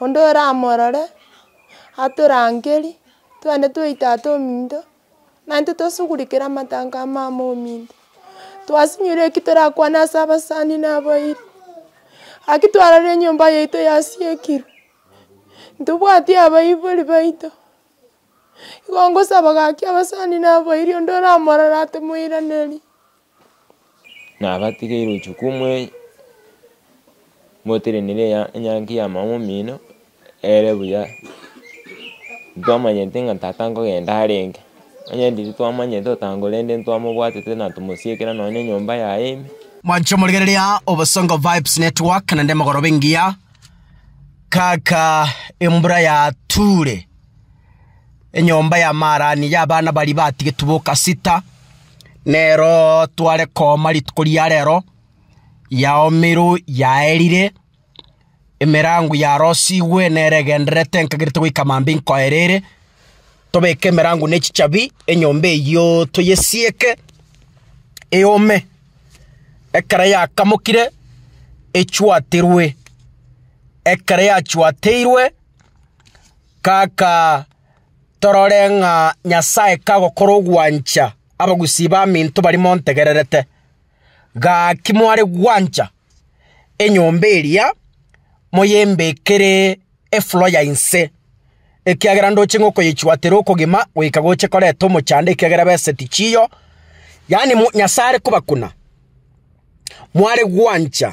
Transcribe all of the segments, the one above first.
Onde oramorore, atorangeri, twende twa tata ominto, naintwe tosugurikere amatango a mama ominto. Twasinyire eki torakwane ase abasani na abairi, aki twarorire enyomba yaito yasiekirwe, ntobwati abaibori baito, igo ngosaba gaki abasani na abairi onde oramorore atemoiranerie. Nabatigeire ochuko omwei, moterenere eya enyangi y'amang'ana omino, ere buya, ntwamanyete ng'a tata nkogenda arenge, onye riria twamanyete otango rende ntwamobwatete na tomosiekera nonye enyomba yaye ime. Mwanche omorigereria obosongo vibes network naende mogoroba engiya kaka embura ya ture. Enyomba ya Maarani y'abana baria batigetwe boka sita, nero tware kooma rituko ria rero, yaoomirwe, yaerire, emerango yarosigwe, nere egendererete nkagerete goika mambia inkoera ere. Tobeke emerango ne chichabi, enyomba eyio toyesieke eome. Ekero yakamokire, echwaterwe. Ekero yachwateirwe, Kaka, torore ng'a Nyasae kagokora ogwancha abagusii baminto baria montegererete. Gaki mware gwancha enyomba eria, moyembekere efulo ya inse, ekiagera ndoche ng'a okoyechwatera okogima goika goche koreta omochando ekiagera beseti chiyo, yaani Nyasae are kobakuna, mware gwancha.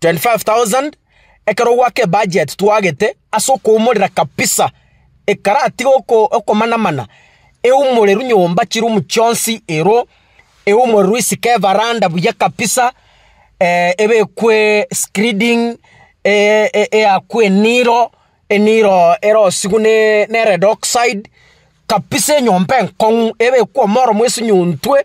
25,000 ekero gwake ebudget twagete ase okoumorera kabisa ekaratige oko okomana mana eumoreru nyomba chiroom chionsi ero eumoreru isiko evaranda buya kabisa ebekwe skreeding eyakwe eniro eniro erosigwe ne ne red oxide kabisa enyomba enkong'u ebekwe omoro mwa esunyontwe.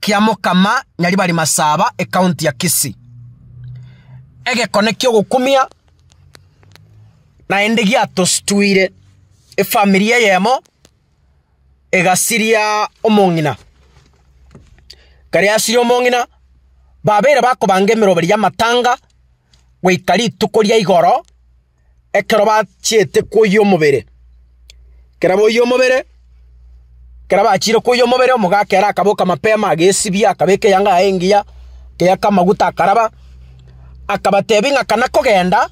kia Mokama Nyaribari Masaba ekaunti ya Kisii. Egekone ki'ogokumia naende giatostuire efamiri eyemo egasiria omong'ina. Ekero yasirie omong'ina babeire bakobanga emeroberi y'amatanga goika rituko ria igoro ekero bachiete koyia omobere. Ekero boyia omobere, ekero bachiire koyia omobere, omogaka ere akaboka mapema agesibia, akabeka eyanga yaye engiya, akeyaka amaguta akaraba, akabatebia ng'a kana kogenda,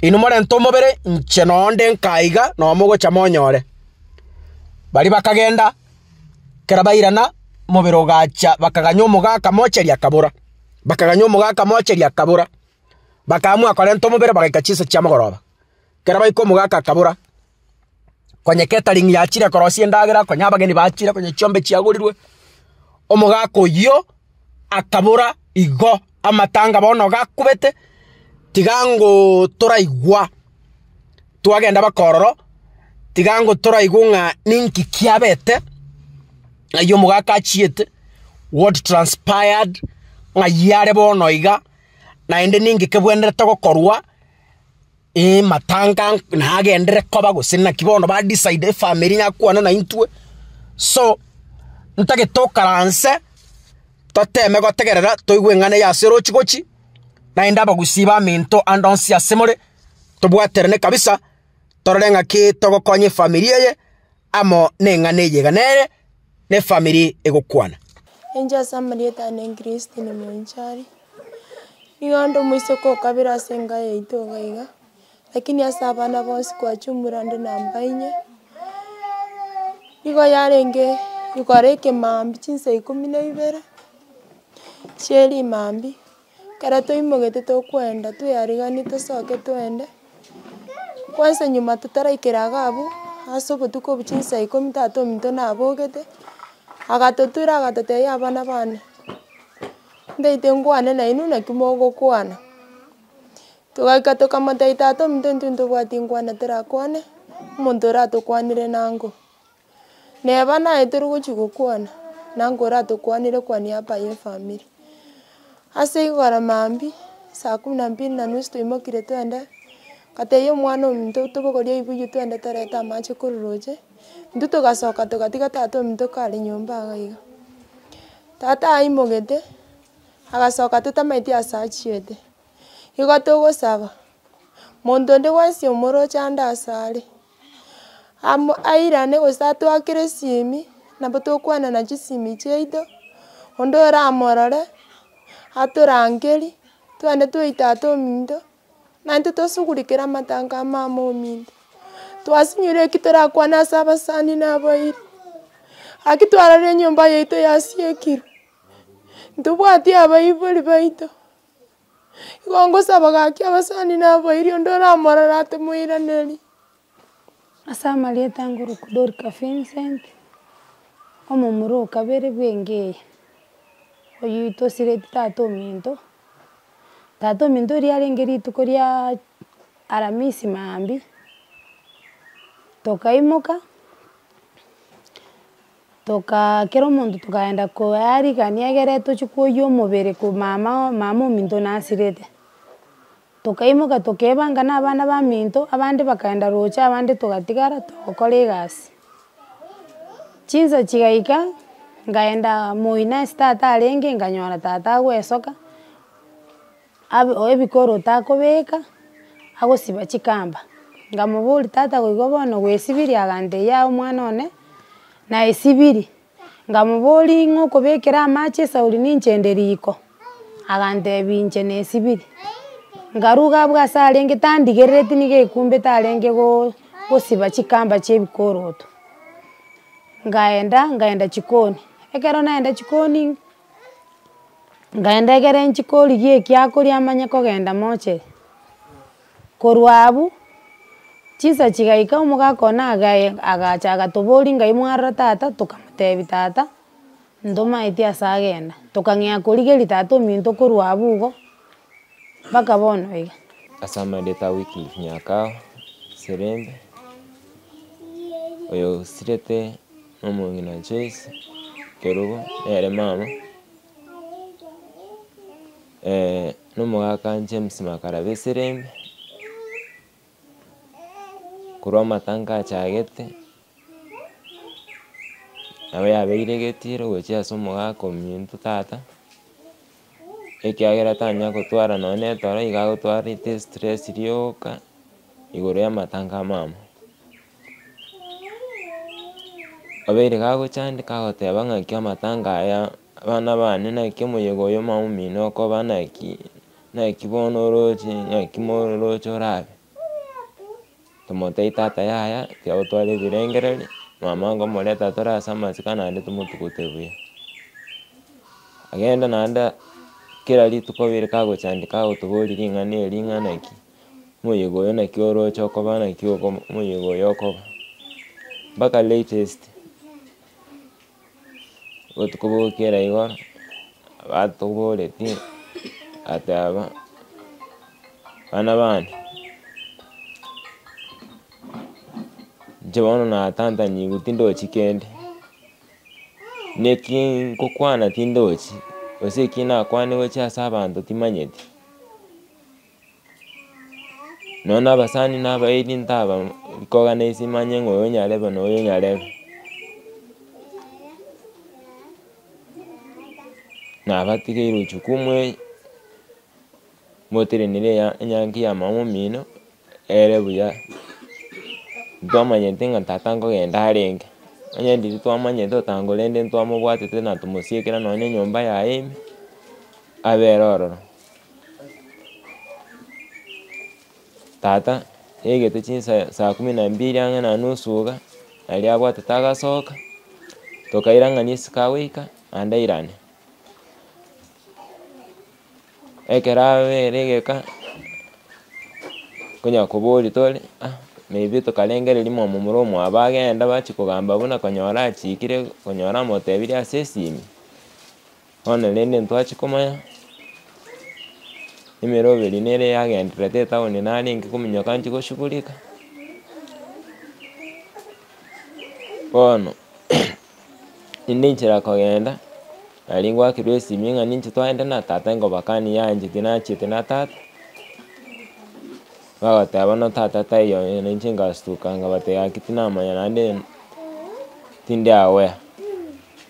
inwe morente omobere, inche nonde nka iga, nomogocha monyore. Baria bakagenda. Ekero bairana, omobere ogacha, bakaganya omoga akamocheria akabora, bakaganya omoga akamocheria akabora, bakaamua korenta omobere bagaika chinsa chiamogoroba. Ekero baika omoga aka akabora, konya catering yachire korosia endagera, konya abageni bachire, konya chiombe chiagorirwe, omoga aka oyio. akabora, Igo, amatanga bono gakubete, tiga ngotoraigwa twagenda mpaka ororo, tiga ngotoraigwe ng'a ninki kiabete, ng'ai omogaka achiete, what transpired, ng'ai are bono iga, naende ninki kebwenerete gokorwa. Ee, matanga nagenderere koba gose naki bono ba decide efamiri ng'a kwane na intwe. So, ntagete tokaranse, toteme gotegerera toigwe eng'ana eye ase orochi gochi, naende abagusi bamento ande onsi ase more, tobwaterane kabisa torore ng'aki togokonya efamiri eye. amo neng'ana eye iga nere nefamiri egokwana. Enche ase amarieta ane Christine Mwenchari, nigo onde omoiseke o kabere ase enka yaito iga iga, lakini ase abana bonsi kwachia omura inde namba inye, nigo yarenge igokora ekemambia chinsa ikomi na ibere chiarimambia. Ekero toimogete tokwenda tweyariganie tosoke twende, kwansa nyuma totaraikera iga abwo, ase obotuko obuchia chinsa ikomi tata ominto nabogete, agatotura agatotebia abana bane, ntaete nkwane nainwe naki mogokwana, togaika tokamotebia tata ominto intwe ntobwati nkwana torakwane, omonto oratokwanire nango. Neba naye tori gochia gokwana, nabo oratokwanire kwania apa ye efamiri. Ase igoro maambia, saa kumi na mbili na nusu toimokire twende, ngatebia omwana ominto tobogorie ebibuyu twende torete amache korwa roche, intwe togasoka togatiga tata ominto kare nyomba iga iga. Tata aimogete, agasoka totamaeti ase achiete, igo togosaba, monto onde bwensi omoroche ande ase are, Amo airane gose atwakere esimi, nabo tokwana na chisimi chiaito, onde oramorore, atorangerie, twende twaita ata ominto, naintwe tosugurikere amatango amo ama ominto. Twasinyore eki torakwane ase abasani na abairi, aki twarorire enyomba yaito yasiekirwe, ntobwati abaibori baito. Igo ngosaba gaki abasani na abairi onde oramorora ate moiranerie. Ase amarieta a Ngoroku Dorika Vincent, omomura o kabere bw'engo eye, oyio tosireti tata ominto, tata ominto oria arenge rituko riaa aramisi maambia, tokaimoka. Tokaa kera omonto tokaenda koea rigania egere tochie koyia omobere ko mama o mama ominto nasirete. Tokaimoka tokaebanga na abana baminto abande bakaenda roche abande togatigara togokora egasi. Chinsa chigaika ngaenda moi nase tata arenge nganyora tata agoesoka. Abe ebikoro otakobeka, agosiba chikamba. Ngamoboria, tata goigo bono gwesibiri? Agantebia, yaya omwana one, naesibiri. Ngamoboria, ing'o okobekera amache esauri ninche ende riko? Agantebia, inche nesibiri. Ngaruga abwo ase arenge tandigerereti niga ekumbete arenge go- gosiba chikamba chia ebikoroto. Ngaenda, ngaenda chikoni, ekero naenda chikoni. Nkaenda ekero nchie korigia ekiakoria manye kogenda moche, korwa abwo, chinsa chigaika omogaka one agaye agacha agatoboria ngai mwarora tata, tokamotebia tata ntomaeti ase agenda, tokang'ea korigeria tata ominto korwa abwo igo, mpaka bono iga. Ase amaedete a Wycliffe Nyakao, Serembe, oyosirete. Omong'ina Joyce Kerubo nere mama nomogaka James Makara Beserembe, korwa amatango achagete, nabo yabeire egetiro gochia ase omogaka ominto tata. ekiagera tanya gotwara nonye na etoro iga agotwarete estress rioka igoro y'amatango amamo. Obeire iga agochandeka agoteba ng'aki amatango aya abana bane naki omoyega oyo omamo omino okoba naki, naki bono oroche, naki mororoche orabe. Tomotebie tata yaya tiagotwara ebirengererio, mama ngomoreta atore ase amasika naende tomotugote buya. Agende naende kera rituko bire kagochandeka agotoboria ring'ana eri ring'ana ki, omoyega oyo naki oroche okoba naki okoba omoyega oyo okoba mpaka latest. botuko bogokera igo, batoboretie ateba, bana bane, inche bono natantanyigwe tindochi kende, neki ngokwana tindochi, gose eki nakwane gochia ase abanto timanyeti. Nonya na abasani na abairi ntaba kogana ase manye ng'a oyo nyarebe na oyo nyarebe, nabatigeire echukumu eye, moterenere eya enyangi ya mama omino ere buya, ntwamanyete ng'a tata nkogenda arenge, onye riria twamanyete otango rende ntwamobwatete na tomosiekera nonya enyomba yaye ime abere ororo. Tata yaigete chinsa saa kumi na mbili ang'e na nusu iga, aria abwatete agasoka, tokairang'ania isiko agoika naende airane. Ekero abere igeka, konya koboria tore ah maybe tokarengereria momo more omwabo agenda bachia kogamba buna konyora achikire konyora amotebirie ase esimi. Bono rende ntwachi komanya, emeroberi nere yagendererete etaoni narenge kominyoka nchi goshugurika, bono inde inchera kogenda, nari ngwakerwa esimi ng'a ninche twagenda na tata nkobakani yaanchete nachiete na tata, bagoteba bono tata taiyo eh, nainche ngastuka nkabatebia gaki tinamanya naende tindi aware.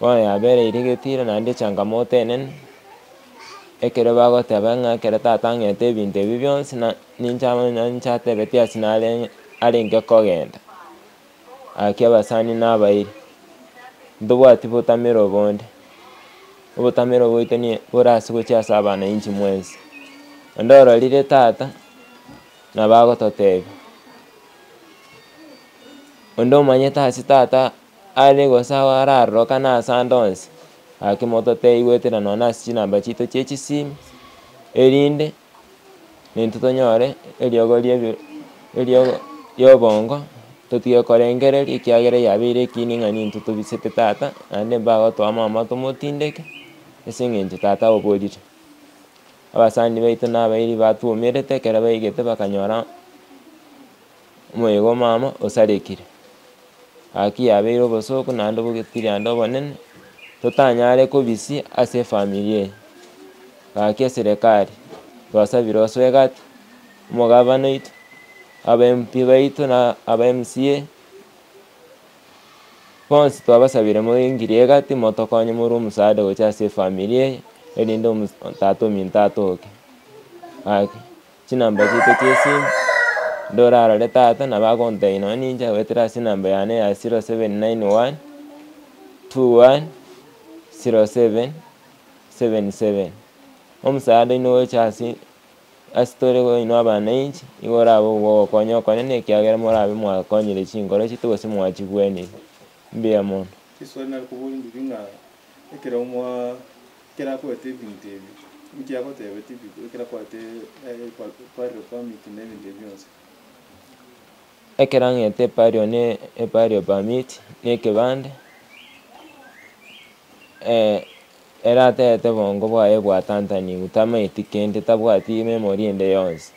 Bono yabereiri getira naende echangamoto enene, ekero bagoteba ng'a ekero tata ang'ete ebinto ebi bionsi na ninche aba na ninche atebetie ase narenge arenge kogenda. Gaki abasani nabairi, ntobwati botamera obonde, obotamero bwaito ni bore ase gochia ase abana inchi mwensi. Onde ororire tata, nabo agototebi, onde omanyete ase tata. Are gose ao ararorokane ase ande onsi, gaki mototeigwetera nonya ase chinamba chiaito chie chisimu, erinde naintwe tonyore eriogo ri'ebi eriogo ri'obongo, totige korengereria ekiagera eyio yabeire ekiini ng'a nintwe tobisete tata, naende mbagotoa mama tomotindeke, ase eng'encho tata oborire. Abasani baito nabairi batwomerete ekero baigete bakanyora. Omoyega omama osarekire. Gaki yabeire obosooku naende obogekiri ande obonene, totanyare kobisia ase efamiri eye. Gaki eserekari twasabire ase egati, omogavana oito, aba MP baito na aba MCA, bonsi twabasabire moingirie egati motokonye more omosaada gochia ase efamiri eye, erinde tata ominto atoke. Gaki. Chinamba chiaito chi'esimu, ndorarore tata nabo agontebia nonye ninche agoetera ase enamba yane ya zero seven nine one two one zero seven seven seven. Omosaada oino ogocha ase ase tore oino abananchi nigo orabe ogokonya okonene ekiagera morabe mwakonyire chinkoro chiaito gose mwachigwenirie. Mbuya mono. Riswali nari koboria ndiri ng'a ekero mwaa Ekero akoete ebinto ebi, inki agoteebeti bi- ekero akoete eh, pa- burial permit na ebinto ebi bionsi? Ekero ang'ete eburial ne eburial permit na ekebande, eh, ere atagete obongo bwaye bwatantanigwe, tamaeti kende, tabwati ememory ende yonsi.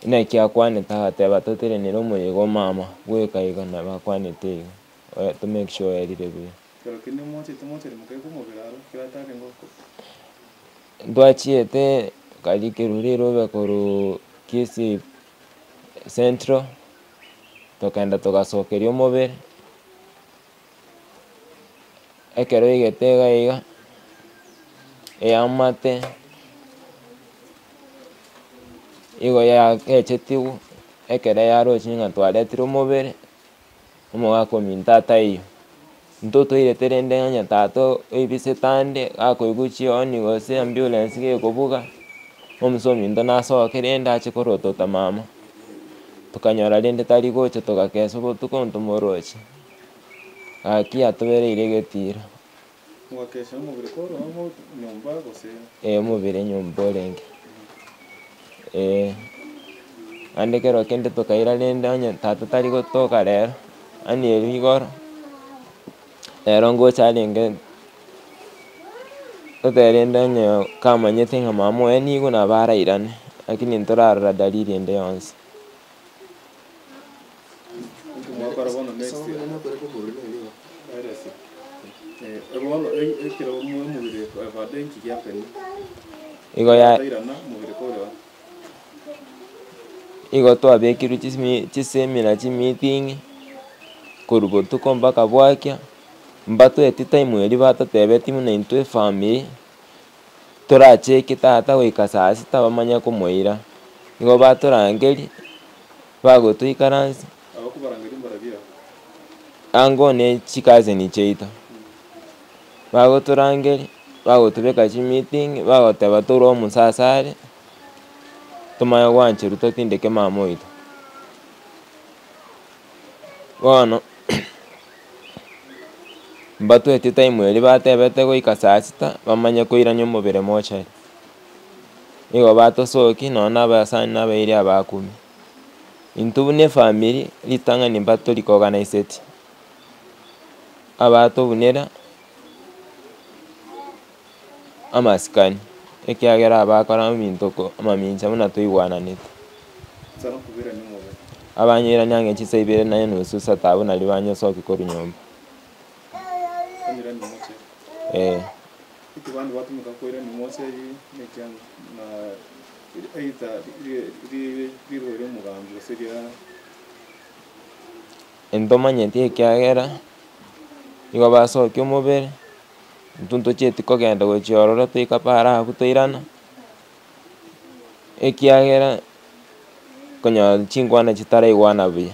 Naki akwanete agateba toterenere omoyega omama, bweka iga nabo akwanete iga, eh to make sure oerire buya. Ekero kende moachete mochari mokaika omobere aro, kera tarenge okobua. Ntwachiete nkarikerwa rirobe korwa Kisii Central, tokenda togasokeria omobere, ekero oigete iga iga, eamate igo yagechetigwe, ekero yarochire ng'a twareterwe omobere. omogaka ominto ataiyo. Intwe toirete rende ng'anya tata oibisete ande gakoigwa chioni gose ambulance gekobuga, omisa ominto nasoke rende ache korotota mama, tokanyora rende tari gocha togakesa obotuko ntomoroche, gaki atobereire egetiro. Mogakeesera omobere kworwao nyomba gose. Ee, omobere nyomba orenge. Ee, naende ekero kende tokaira rende onye tata tari gotoka rero, yaani erio igoro, rero ngocha arenge totebe rende onye kamanyete ng'a mama oye nigo nabo arairane, lakini ntorarora dalili ende yonsi. Igo twabekirwe chisemi chisemina chimeeting, korwa botuko mpaka bwakia, mbatweti time eria batotebetie buna intwe efamiri. Toracheke tata goika saa sita bamanye komoira. Nigo batorangeria, bagotoikaransa ango ne chikazeni chiaito. Bagotorangeria, bagotobeka chimitingi, bagoteba tore omosaso are, tomanye gwancherwa totindeke mama oito. Bono. Mbatwete time eria batebete goika saa sita bamanye koirania omobere mochari. Nigo batosoki nonya na abasani na abairi aba akumia. Intwe buna efamiri ritang'ani mba tori ko organiseti. Abatobunera. amasikani, ekiagera abakora amintoko amamincha buna toigwananete. Abanyairani ang'e chisa ibere na enusu isata abwo nario banyesokia korwa nyomba. Ee. Intomanyeti ekiagera igo basokia omobere. intwe ntochieti kogenda gochia ororo toika paara agwo toirana, ekiagera, okonyora chingwana chitaraigwana buya.